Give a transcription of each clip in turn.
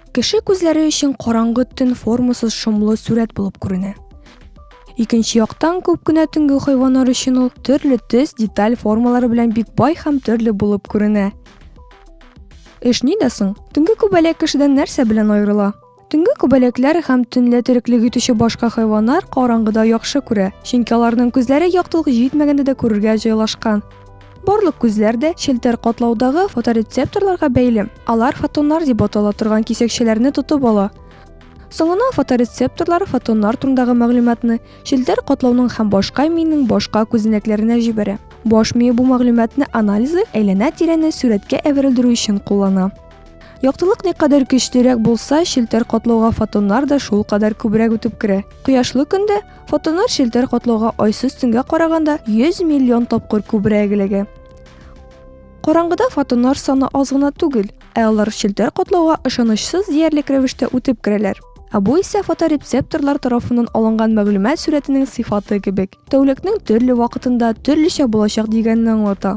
Кеше күзләре өчен караңгы төн формасыз шомлы сурәт булып күренә. Икенче яктан күп кенә төнге хайваннар өчен ул төрле төс, деталь формалары белән бик бай һәм төрле булып күренә. Эш нидә соң? Төнге күбәләк кешедән нәрсә белән аерыла? Төнге күбәләкләр һәм төнлә тереклек итүче башка хайваннар караңгыда яхшы күрә, чөнки аларның күзләре яктылык җитмәгәндә дә күрергә җайлашкан. Барлык күзләр дә челтәр катлаудагы фоторецепторларга бәйле. Алар фотоннар дип атала торган кисәкчәләрне тотып ала. Соңына фоторецепторлар фотоннар турындагы мәгълүматны челтәр катлауның һәм башка миенең башка күзәнәкләренә җибәрә. Баш мие бу мәгълүматны анализы әйләнә-тирәне сурәткә әверелдерү өчен куллана. Яктылык никадәр көчлерәк булса, челтәр котлауга фотоннар да шул кадәр күбрәк үтеп керә. Кояшлы көндә фотоннар челтәр котлауга айсыз төнгә караганда 100 миллион тапкыр күбрәк эләгә. Караңгыда фотоннар саны аз гына түгел, ә алар челтәр котлауга ышанычсыз диярлек рәвештә үтеп керәләр. Ә бу исә фоторецепторлар тарафыннан алынган мәгълүмат сурәтенең сыйфаты кебек, тәүлекнең төрле вакытында төрлечә булачак дигәнне аңлата.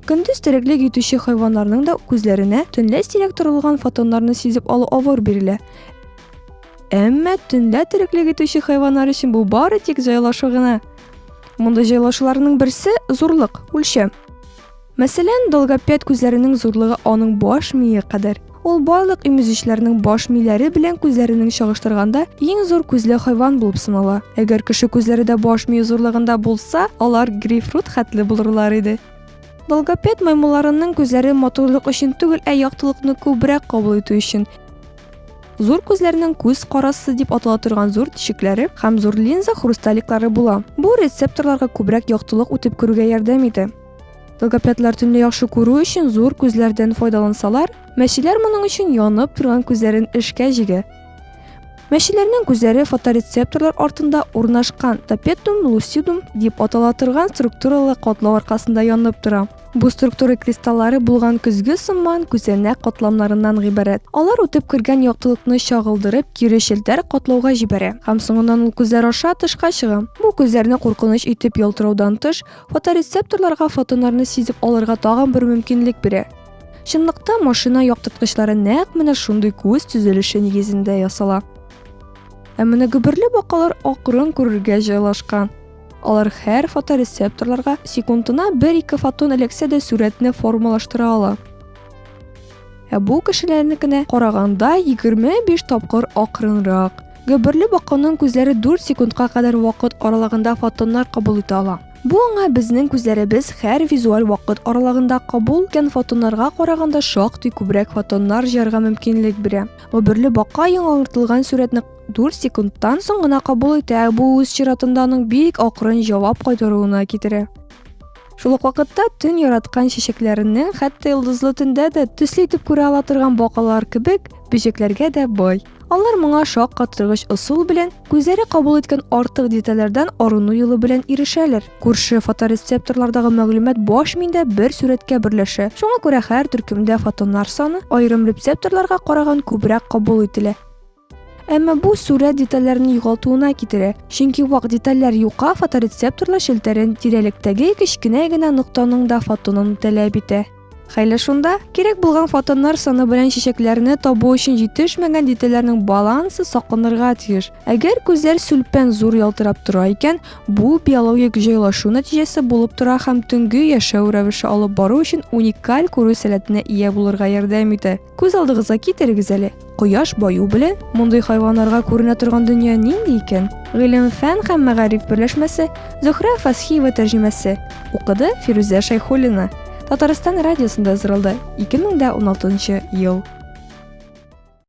Көндез тереклек итүче хайваннарның да күзләренә төнлә сирәк торылган фотоннарны сизеп алу авыр бирелә. Әмма төнлә тереклек итүче хайваннар өчен бу бары тик җайлашу гына. Мондый җайлашуларның берсе зурлык, үлчәм. Мәсәлән, долгопед күзләренең зурлыгы аның баш мие кадәр. Ул барлык имезүчләрнең баш миләре белән күзләренең чагыштырганда иң зур күзле хайван булып санала. Әгәр кеше күзләре дә баш мие зурлыгында булса, алар грейпфрут хәтле булырлар иде. Долгопед маймылларының күзләре матурлык өчен түгел, ә яктылыкны күбрәк кабул итү өчен. Зур күзләрнең күз карасы дип атала торган зур тишекләре һәм зур линза хрусталиклары була. Бу рецепторларга күбрәк яктылык үтеп керүгә ярдәм итә. Логопедлар төнне яхшы күрү өчен зур күзләрдән файдалансалар, мәчеләр моның өчен янып торган күзләрен эшкә җигә. Мәчеләрнең күзләре фоторецепторлар артында урнашкан топетум лусидум дип атала торган структуралы катлау аркасында янып тора. Бу структура кристаллары булган көзге сыман күзәнәк катламнарыннан гыйбарәт. Алар үтеп кергән яктылыкны чагылдырып, кире челтәр катлауга җибәрә һәм соңыннан ул күзләр аша тышка чыга. Бу күзләрне куркыныч итеп ялтыраудан тыш, Фоторецепторларга фотоннарны сизеп алырга тагын бер мөмкинлек бирә. Чынлыкта машина яктырткычлары нәкъ менә шундый күз төзелеше нигезендә ясала. Ә менә гөберле бакалар акрын күрергә җайлашкан. Алар һәр фоторецепторларга секундына бер-ике фотон эләксә дә сурәтне формалаштыра ала. Ә бу кешеләрнекенә караганда 25 тапкыр акрынрак. Гөберле баканың күзләре 4 секундка кадәр вакыт аралыгында фотоннар кабул итә ала. Бу аңа безнең күзләребез һәр визуаль вакыт аралыгында кабул иткән фотоннарга караганда шактый күбрәк фотоннар җыярга мөмкинлек бирә. Гөберле бака яңартылган сурәтне 4 секундтан соң гына кабул итә, бу үз чиратында аның бик акрын җавап кайтаруына китерә. Шул ук вакытта төн яраткан чәчәкләренең хәтта йолдызлы төндә дә төсле итеп күрә ала торган бакалар кебек бөҗәкләргә дә бай. Алар моңа шаккатыргыч ысул белән, күзләре кабул иткән артык детальләрдән арыну юлы белән ирешәләр. Күрше фоторецепторлардагы мәгълүмат баш миендә бер сурәткә берләшә. Шуңа күрә һәр төркемдә фотоннар саны аерым рецепторларга караган күбрәк кабул ителә. Әмма бу сурәт детальләрне югалтуына китерә, чөнки вак детальләр юка фоторецепторлы челтәрен тирәлектәге кечкенә генә ноктаның да фотонын таләп итә. Хәйлә шунда, кирәк булган фотоннар саны белән чәчәкләрне табу өчен җитешмәгән детальләрнең балансы сакланырга тиеш. Әгәр күзләр сүлпән зур ялтырап тора икән, бу биологик җайлашу нәтиҗәсе булып тора һәм төнге яшәү рәвеше алып бару өчен уникаль күрү сәләтенә ия булырга ярдәм итә. Күз алдыгызга китерегез әле, кояш баю белән мондый хайваннарга күренә торган дөнья нинди икән? Гыйлем, фән һәм мәгариф берләшмәсе, Зөхрә Фасхиева тәрҗемәсе. Укыды Фирүзә Шәйхуллина. Татарстан радиосында ызгырылды 2016 ел.